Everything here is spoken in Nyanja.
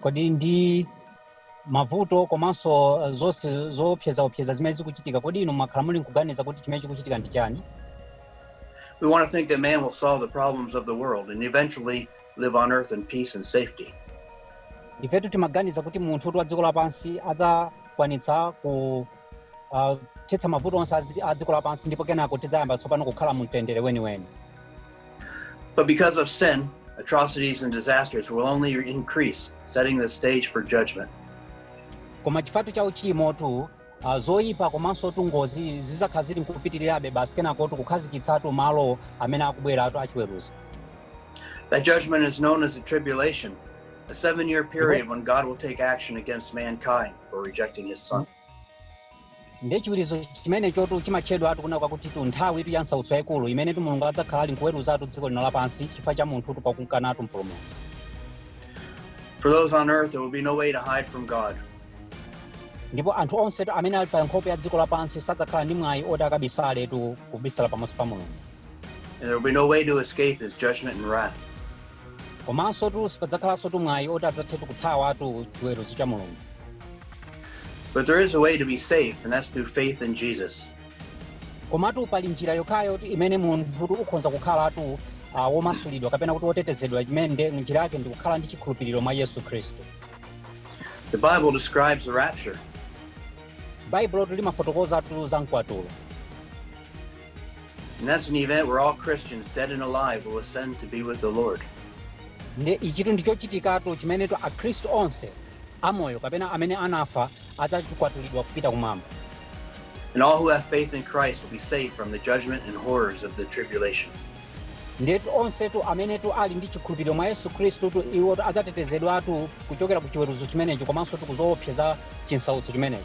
kodi ndi mavuto komanso eh, zonse zoopsezaopseza zimene zikuchitika kodi inu mwakhala muli nkuganiza kuti chimene chikuchitika ndi chani We want to think that man will solve the problems of the world and eventually live on earth in peace and safety. ifetu timaganiza kuti munthutu wa dziko lapansi adzakwanitsa ku uh, thetsa mavuto onse a dziko lapansi ndipo kenako tidzayamba tsopano kukhala mu mtendere weniweni But because of sin, atrocities and disasters will only increase, setting the stage for judgment. koma chifukwatu cha uchimotu uh, zoyipa komansotu ngozi zidzakhala zili nkupitirirabe basi kenakotu kukhazikitsatu malo amene akubweratu achiweruzo That judgment is known as the tribulation, A seven year period when God will take action against mankind for rejecting his son. ndiye chiweruzo chimenechotu chimatchedwatu kunena kwakutitu nthawitu ya nsautso yayikulu imenetu mulungu adzakhala ali nkuweruzatu dziko lino lapansi chifukwa cha munthutu pakumkanatu mpulumutsi For those on earth, there will be no way to hide from God. ndipo anthu onsetu amene ali pa nkhope ya dziko lapansi sadzakhala ndi mwayi woti akabisaletu kubisala pamaso pa mulungu And there will be no way to escape his judgment and wrath. komansotu sipadzakhalansotu mwayi woti adzathetu kuthawatu chiweruzo cha mulungu But there is a way to be safe, and that's through faith in Jesus. komatu pali njira yokhayotu imene munthu ukhoza kukhalatu ah, womasulidwa kapena kuti wotetezedwa imene nde njira yake ndi kukhala ndi chikhulupiriro mwa yesu khristu The Bible describes the rapture. baibulotu limafotokozatu za mkwatulo And that's an event where all Christians, dead and alive, will ascend to be with the Lord. nde ichitu ndi chochitikatu chimenetu akhristu onse amoyo kapena amene anafa adzakwatulidwa kupita kumwamba And all who have faith in Christ will be saved from the judgment and horrors of the tribulation. ndetu onsetu amenetu ali ndi chikhulupiriro mwa yesu khristutu iwotu adzatetezedwatu kuchokera ku chiweruzo chimenecho komansotu ku zoopsa za chinsautso chimenecho